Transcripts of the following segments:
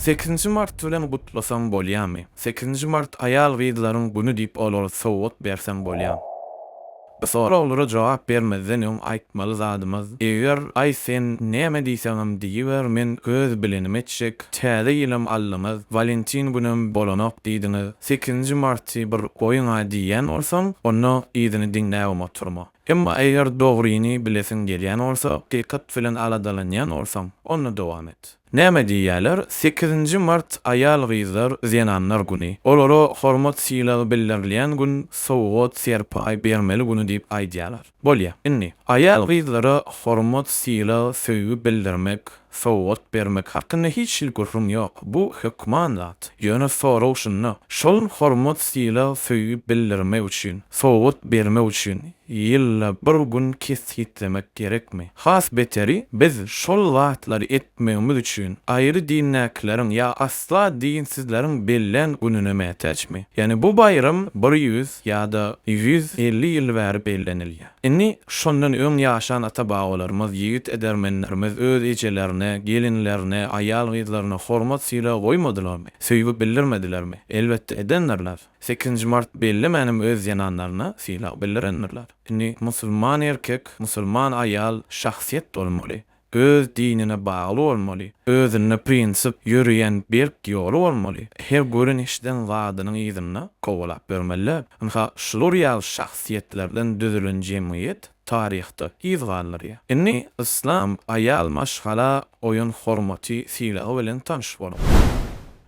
Sekizinji mart bilen gutlasaň bolýamy? Sekizinji mart aýal-gyzlaryň güni diýip olara sowgat berseň bolýamy? Bu soraglara jogap bermezden öň aýtmaly zadymyz, eger Aý sen näme diýseňem diýiber men öz bilenimi etjek, täze ýylam aldymyz, Walentin günem bolanok diýdiňiz, sekizinji marty bir goýuň-a diýýän bolsaň, onda yzyny diňläbem oturma. Emma eger dogryny bilesiň gelýän bolsa, hakykat bilen aladalanýan bolsaň, onda dowam et. Näme diýýärler, sekizinji mart aýal-gyzlar, zenanlar güni. Olara hormat-sylag bildirilýän gün, sowgat-serpaý bermeli güni diýip aýdýarlar. Bolýa, indi, aýal-gyzlara hormat-sylag, söýgi bildirmek, Sowgat bermek hakynda hiç hili gürrüň ýok. Bu hökman zat. Ýöne sorag şunda, şol hormat sylag söýgi bildirmek üçin, sowgat bermek üçin ýylda bir gün kesgitlemek gerekmi? Has beteri, biz şol zatlary etmegimiz üçin gaýry dindäkileriň ýa asla dinsizleriň bellän gününe mätäçmi? Ýagny bu baýram bir ýüz ýa-da ýüz elli ýyl bäri bellenilýär. Indi şondan öň ýaşan ata-babalarymyz, ýigit edermenlerimiz öz ejelerine, gelinlerine, aýal-gyzlaryna hormat-sylag goýmadylarmy, söýgi bildirmedilermi? Elbetde edendirler. Sekizinji mart bellemänem öz zenanlaryna sylag bildirendirler. Indi musulman erkek, musulman aýal şahsyýet bolmaly. öz dinine bagly bolmaly, özünde prinsip, ýöreýän berk ýoly bolmaly, her gören-eşiden zadynyň yzynda kowalap ýörmeli-dä. Ynha, şular ýaly şahsyýetlerden düzülen jemgyýet taryhda yz galdyrýar. Indi yslam, aýal, maşgala, oýun, hormaty, sylagy bilen tanyş boluň.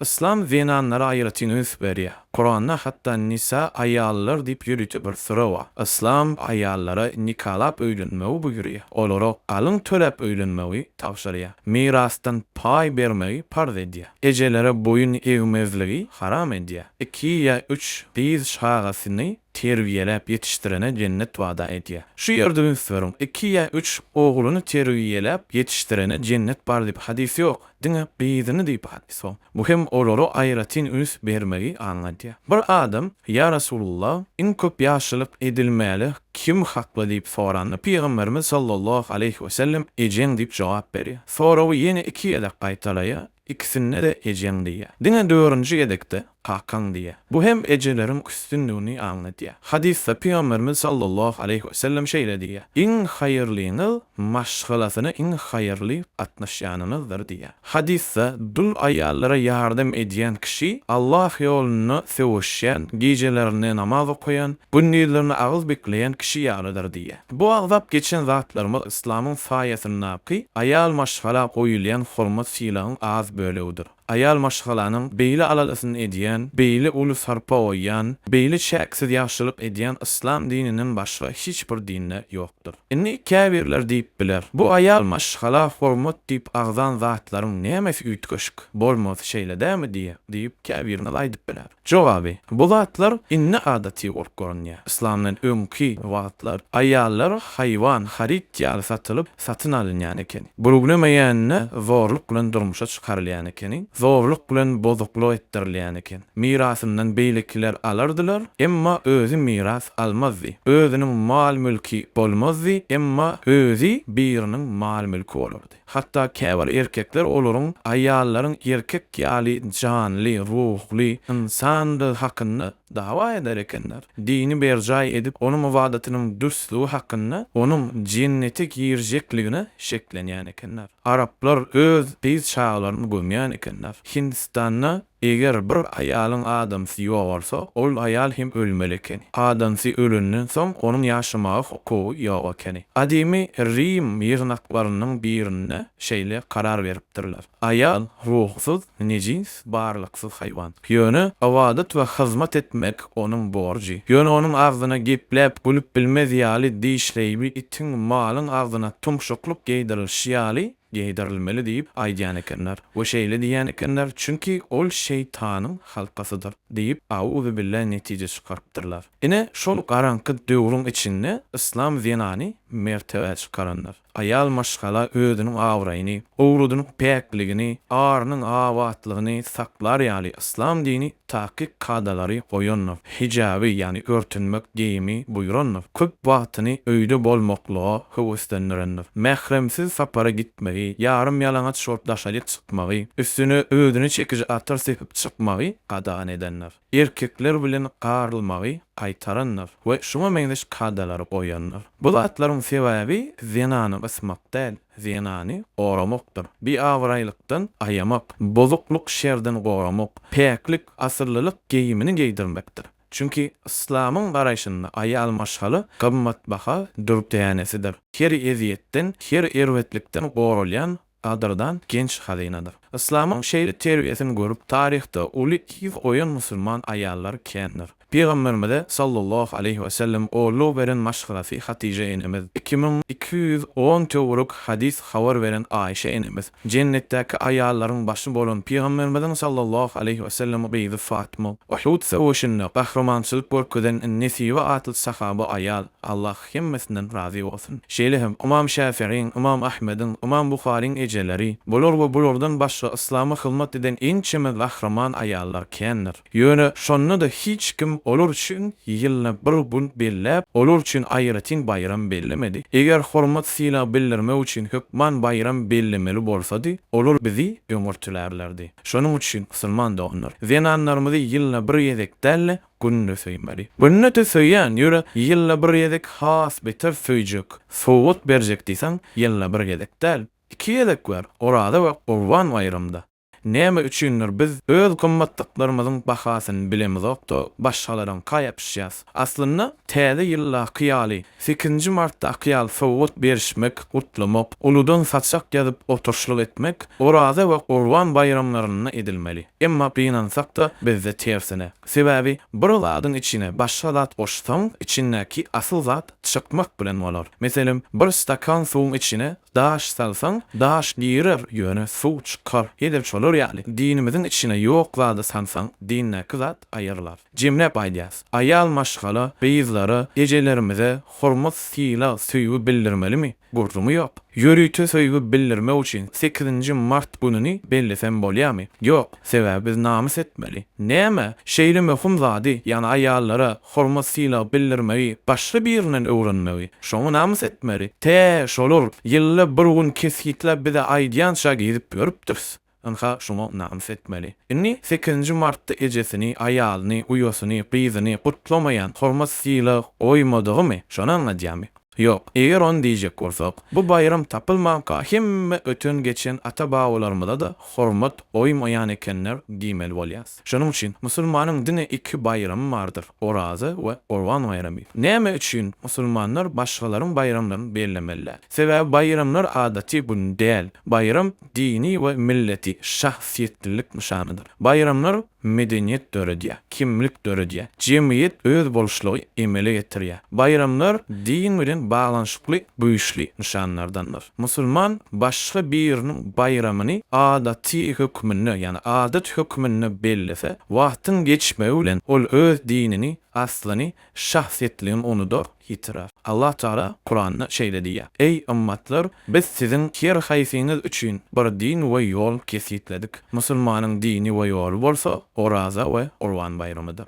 Yslam zenanlara aýratyn üns berýär. Kuranda hatda Nisa aýallar diýip ýörite bir sura bar. Yslam aýallara nikalap öýlenmegi buýurýar. Olara galyň töläp öýlenmegi tabşyrýar. Mirasdan paý bermegi parz edýär. Ejelere boýun egmezligi haram edýär. Iki ýa üç gyz çagasyny terbiýeläp ýetişdirene jennet wada edýär. Şu ýerde üns beriň, iki ýa üç ogluny terbiýeläp ýetişdirene jennet bar diýip hadys ýok. Diňe gyzyny diýip aýtdy. Soň bu hem olara aýratyn üns bermegi aňladýar. Bir adam, Ýa Resulullah, iň köp ýagşylyk edilmäge kim hakly diýip soranda, Pygamberimiz sallallahu aleýhi wesellem, Ejeň diýip jogap berýär. Soragy ýene iki gezek gaýtalaýar, ikisinde-de ejeň diýýär. Diňe dördünji gezekde kakaň diýýär. Bu hem ejeleriň üstünligini aňladýar. Hadysda Pygamberimiz sallallahu aleýhi we sellem şeýle diýýär, Iň haýyrlyňyz maşgalasyna iň haýyrly gatnaşýanyňyzdyr diýýär. Hadysda dul aýallara ýardam edýän kişi, Allah ýolunda söweşýän, gijelerine namaz okaýan, gündizlerine agyz bekleýän kişi ýalydyr diýýär. Bu agzap geçen zatlarymyz yslamyň saýasyndaky aýal maşgala goýulýan hormat-sylagyň az bölegidir. Aýal maşgalanyň beýle alalasyny edýän, beýle uly sarpa goýýan, beýle çäksiz ýagşylyk edýän yslam dininden başga hiç bir dinde ýokdur. Indi käbirler diýip biler, Bu aýal maşgala hormat diýip agzan zatlaryň nämesi üýtgeşik, bolmaz şeýle dämi diýýär diýip käbiriniz aýdyp biler. Jogaby, Bu zatlar indi adaty bolup görünýär. Yslamdan öňki wagtlar aýallar haýwan, haryt ýaly satylyp, satyn alynýan ekeni. Gürgülemeýänine zorluk bilen durmuşa çykarylýan ekeni, zorluk bilen bozuklyk etdirilýän eken. Mirasyndan beýlekiler alardylar, emma özi miras almazdy. Özüniň mal-mülki bolmazdy, emma özi biriniň mal-mülki bolardy. Hatda käbir erkekler olaryň aýallaryň erkek ýaly janly, ruhly ynsandygy hakynda dawa eder ekenler. Dini berjaý edip, onuň ybadatynyň dürsdügi hakynda onuň jennete girjekligine şeklenýän ekenler. Araplar öz gyz çagalaryny gömýän ekenler. Hindistanda Eger bir aýalyň adamsy ýogalsa, ol aýal hem ölmeli ekeni. Adamsy ölenden soň onuň ýaşamaga hukugy ýok ekeni. Gadymy Rim ýygnaklarynyň birinde şeýle karar beripdirler, Aýal, ruhsyz, nejis, barlyksyz haýwan. Ýöne ybadat we hyzmat etmek onuň borjy. Ýöne onuň agzyna gepläp, gülüp bilmez ýaly dişleýbi itiň, malyň agzyna tumşuklyk geýdirilişi ýaly, Geýdirilmeli diýip aýdýan ekenler we şeýle diýýän ekenler, çünki ol şeýtanyň halkasydyr diýip, auzubillah, netije çykarypdyrlar. Ine, şol garaňky döwrüň içinde yslam zenany mertebä çykarandyr. Aýal maşgala özüniň abraýyny, owradynyň päkligini, arynyň abatlygyny saklar ýaly yslam dini Takyk kadalary goýandyr. Hijaby, ýagny örtünmek geýimi buýrandyr. Köp wagtyny öýde bolmaklyga höweslendirendir. Mähremsiz sapara gitmegi, ýarym-ýalaňaç bolup daşaryk çykmagy, üstüne özüne çekiji atar sepip çykmagy gadagan edendir. Erkekler bilen garylmagy gaýtarandyr we şuňa meňzeş kadalary goýandyr. Bu zatlaryň sebäbi zenany gysmak däl. Zenany goramakdyr. Biabraýlykdan aýamak, bozuklyk şerden goramak, päklik, asyllylyk geýimini geýdirmekdir. Çünki yslamyň garaýşynda aýal maşgala gymmatbaha dürtänesidir. Her ezýetden, her erbetlikden goralýan gadyrdan genç hazynadyr. Yslamyň şeýle terbiýesini görüp, taryhda uly yz goýan musulman aýallar kändir. Pygamberimize sallallahu aleýhi we sellem gollyk beren maşgalasy Hatyja enemiz, iki müň iki ýüz on töwerek hadys habar beren Aýşe enemiz, jennetdäki aýallaryň başy bolan Pygamberimiziň sallallahu aleýhi we sellem gyzy Fatma, Uhud söweşinde gahrymançylyk görkezen Nesibe atly sahaba aýal, Allah hemmesinden razy bolsun. Şeýle hem Ymam Şäfigiň, Ymam Ahmediň, Ymam Buharyň ejeleri, bular we bulardan başga yslama hyzmat eden ençeme gahryman aýallar kändir. Ýöne şonda-da hiç kim olar üçin ýylyna bir gün belläp, olar üçin aýratyn baýram bellemedi. Eger hormat-sylag bildirmek üçin hökman baýram bellemeli bolsady, olar bizi öňürtilerlerdi. Şonuň üçin, musulman doganlar, zenanlarymyzy ýylyna bir gezek däl-de, günde söýmeli. Günde-de söýýän, ýöne ýylyna bir gezek has beter söýjek, sowgat berjek diýseň, ýylyna bir gezek däl, iki gezek ber, Oraza we Gurban baýramda. Näme üçindir biz öz gymmatlyklarymyzyň bahasyny bilemizok-da, başgalaryňka ýapyşýas. Aslynda, Täze ýyldaky ýaly, sekizinji martdaky ýaly sowgat berişmek, gutlamak, uludan saçak ýazyp oturyşlyk etmek Oraza we Gurban baýramlarynda edilmeli. Emma gynansak-da, bizde tersine. Sebäbi bir zadyň içine başga zat goşsaň, içindäki asyl zat çykmak bilen bolar. Meselem, bir stakan suwuň içine daş salsaň, daş girer, ýöne suw çykar. Edil şolar ýaly, dinimiziň içine ýok zady salsaň, dindäki zat aýrylar. Jemläp aýdýas, aýal maşgala, gyzlara, ejelerimize hormat, sylag, söýgi bildirmelimi? Gürrüňi ýok. Ýörite söýgi bildirmek üçin sekizinji mart gününi bellesem bolýamy? Ýok. Sebäbi biz namys etmeli. Näme, şeýle möhüm zady, ýagny aýallara hormat-sylag bildirmegi başga birinden öwrenmegi, şoňa namys etmeli? Tä, şolar, ýylda bir gün kesgitläp bize aýdýança gezip ýörüpdiris. Ynha, şuňa namys etmeli. Indi sekizinji martda ejesini, aýalyny, uýasyny, gyzyny gutlamaýan, hormat-sylag goýmadygymy? Şony aňladýamy? Ýok. Eger ony diýjek bolsak, bu baýram tapylmanka hemme öten-geçen ata-babalarymyza-da hormat goýmaýan ekenler diýmeli bolýas. Şonuň üçin musulmanyň diňe iki baýramy bardyr, Oraza we Gurban baýramy. Näme üçin musulmanlar başgalaryň baýramlaryny bellemelidäl? Sebäbi baýramlar adaty gün däl. Baýram dini we milleti şahsyýetlilik nyşanydyr. Baýramlar medeniýet döredýär, kimlik döredýär, jemgyýet özboluşlygy emele getirýär. Baýramlar din bilen baglanyşykly güýçli nyşanlardandyr. Musulman başga biriniň baýramyny adaty hökmünde, ýagny adat hökmünde bellese, wagtyň geçmegi bilen ol öz dinini, aslyny, şahsyýetligini unudar, ýitirer. Allah Tagala Kuranda şeýle diýýär, Eý, ymmatlar! Biz siziň her haýsyňyz üçin bir din we ýol kesgitledik. Musulmanyň dini we ýoly bolsa Oraza we Gurban baýramydyr.